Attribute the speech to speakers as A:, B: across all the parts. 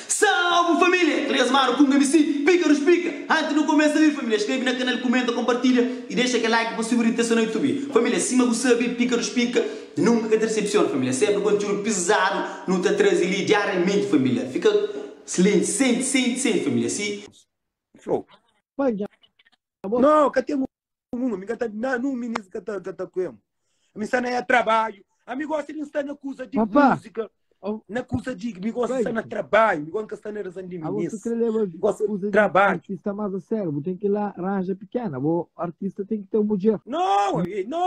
A: Salve família! Três manu ku un mc pika nos pika! Antes nu kumesa li família skrebe na kanal kumenta kompartilha i dexa kel like pa subi ritesa na youtube família sima bu sabe pika nos pika nunka ka ta desepsiona família senpri kontiúdu pizadu nu ta traze li diariamenti família fika slenti senti senti senti família si. Não,
B: cá tem Numa, mi ka ta na nun minis ka ta ka ta kuem. Mi sta na ya trabalho. A mi gosta de estar na coisa de Papá. música. Oh, Na coisa de mi gosta de estar na trabalho, mi gosta de estar na razão de Agora minis. tu quer levar Mi gosta coisa
C: de de trabalho.
B: artista mais a sério, vou
C: ter que ir lá, ranja pequena, vou artista tem que ter um budget. Não, eh, não.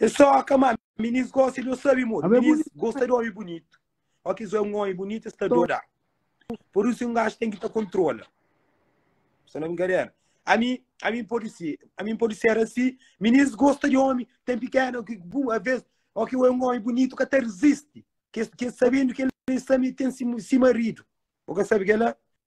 B: É só ka má minis gosta di un sabi moda. Amé Minis bonito. gosta di omi bunitu. Óki es wé un omi bunitu, es ta doda. Pur isu, un gaji ten ki ta kontrola. Só na brinkadera. Ami, ami N pode ser, ami N pode ser asi. Minis gosta di omi, ten pikéna, ki bu, avês, óki wé un omi bunitu, ka ta rizisti. Kes, kes sabedu ki el é sami, el ten si, si maridu. Bo ka sabe kel-la?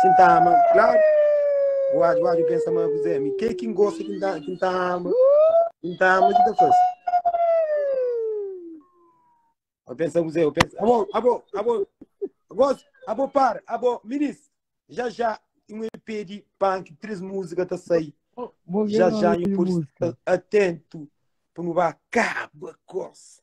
B: Ki N ta ama, klaru. Oadju, oadju, N pensa ma bu dizê mi ke ki N gosta ki N ta, ki N ta ama, ki N ta ama ki ta fase. Ô pensa bu dizê, ô pensa, abo, abo, abo, gosi, abo para, abo, minis, já já um EP de punk, três músicas tá sair. Vou ver Já o já nome de eu por música. estar atento para não acabar coisa.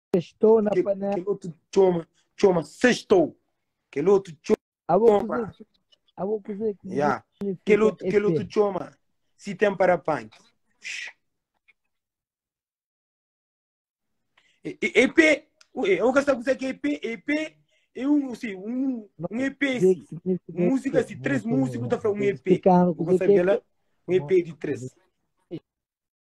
B: Sextou na panela.
C: Kel otu txoma,
B: txoma sextou. Kel otu txoma. Abo kuzê, abo kuzê que yeah. Kel otu, kel otu txoma. Se tem para pan. EP, eu nunca sabe o que é EP, EP é um, assim, um, um EP, assim, música, assim, três músicos, tá falando um EP, eu vou saber lá, um EP de três.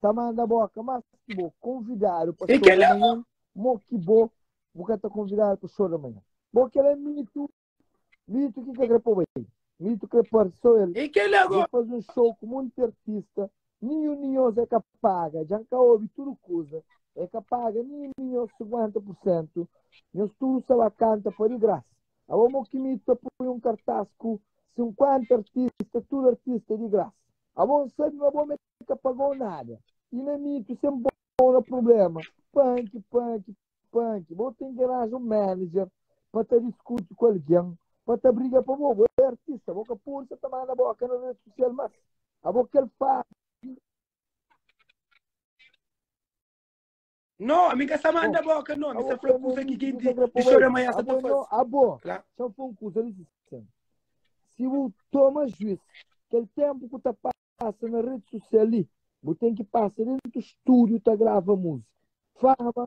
C: ta manda boka mas ki bo konvidadu pa show da manhã
B: mo
C: ki bo bu ka ta konvidadu pa show da manhã bo kel é mitu mitu ki ka kre poba el mitu kre parse so el bu faze un
B: show ku monti
C: artista nin un di nhos é ka paga djan ka obi tudu kuza é ka paga nin un di nhos 50% nhos tudu sa ba kanta pa di grasa abo mo ki mitu ta poi un kartas ku 50 artista tudu artista é di grasa abo sabi ma bo ka pagou nada e na mitu sem pau na problema panki panki panki bo tem ki aranja um manager pa ta diskuti ku alguém pa ta briga pa bo bo é artista bo ka podi sa ta manda boka na rede social mas abo kel fasi
B: No, mi ka sa manda bo ka no, mi sa fla kusa ki jinti di xou da manha sa ta fazi. Abo, Kla. sa
C: fla un kusa li sen. Si bu toma juis, kel tempu ku ta pasa na redi sosial li, bu ten ki pasa dentu studio ta grava musika. Fama.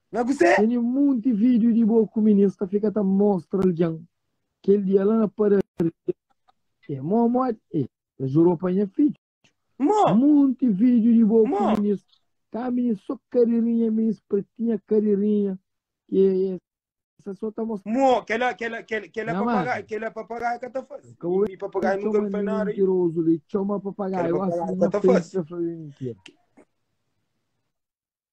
C: Na kuzê? Tene
B: munti video
C: di bo ku minins ta fika ta mostra algen kel dia la na padaria e mo modi e ta jurou pa nha fidju. Mo. Munti video di bo ku Mo. minins ka minins so karirinha minins pretinha karirinha ke esa so ta mostra Mo, kela, kela, kela, kela Namara.
B: papagaio, kela papagaio ka ta faze. Ka Mi papagaio nunca txoma me faz nada. mentirozu li txoma
C: papagaio Kela asi papagaio na ka ta frenti faze. ta fla mi mentira.